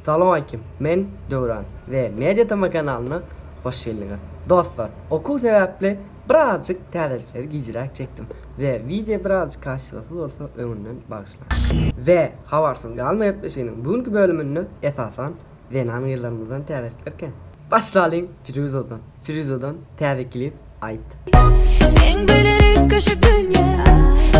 Salowmaýkim men Döwran we Media Tama kanalyna hoş geldiňiz. Dostlar okuw sebäpli birazjyk täzelikleri gijräk çekdim we wideo birazjyk kaşşylysyz bolsa öňünden bagyşlaň. We habarsyz galma gepleşiginiň bu günki bölüminde esasan Zenan gyzlarymyzdan täze pikirkä. Başlalyň Firuzodan Firuzodan täze klip aýt. Seň bilen üýtgeşik dünýä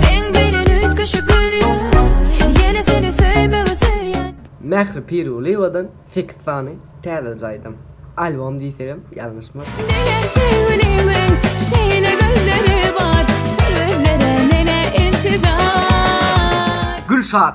Seň bilen üýtgeşik dünýä Ýene seni söýmegi söýýän. Mähri Pirulyýewadan sekiz sany täze jaýdym. Albom diýsegem ýalňyşmarys. Diňe süňňümiň şeýle gözleri bar, şu gözlere menä intizar. Gülşat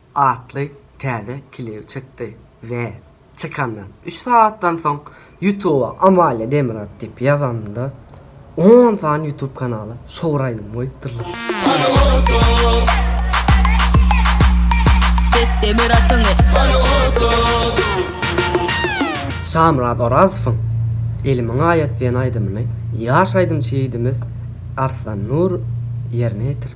atly täze klip çykdy we çykandan üç sagatdan soň Ýutuba Amalia Demirgazyk diýip ýazanyňda on sany Ýutub kanaly şowur aýdym goýupdyrlar. Şamyrat Orazowyň Elimiň aýat diýen aýdymyny ýaş aýdymçy ýigidimiz Arslan Nur ýerine ýetiripdir.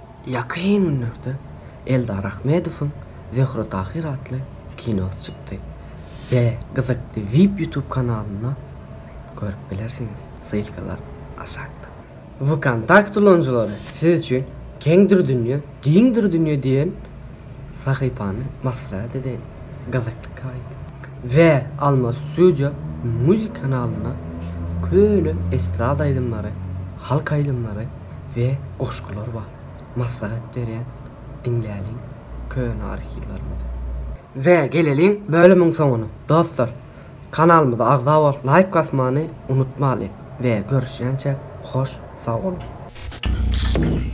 Ýakyn günlerde Eldar Ahmedowyň Zöhre Tahyr atly kinosy çykdy we gyzykly vip ýutub kanalynda görüp bilersiňiz, ssylkalar aşakda. Vkontakt ulanyjylary siz üçin Keňdir dünýe, giňdir dünýe diýen sahypany maslahat edeýin, gyzykly kaýt. We Alma Studio Music kanalynda köne estrada aýdymlary, halk aýdymlary, we goşgular bar. Maslahat berýän diňläliň köne arhiwlerimizi. We geleliň bölümiň soňuna dostlar. Kanalymyza agza bolup laýk basmany unutmalyň we görüşýänçä hoş sag boluň.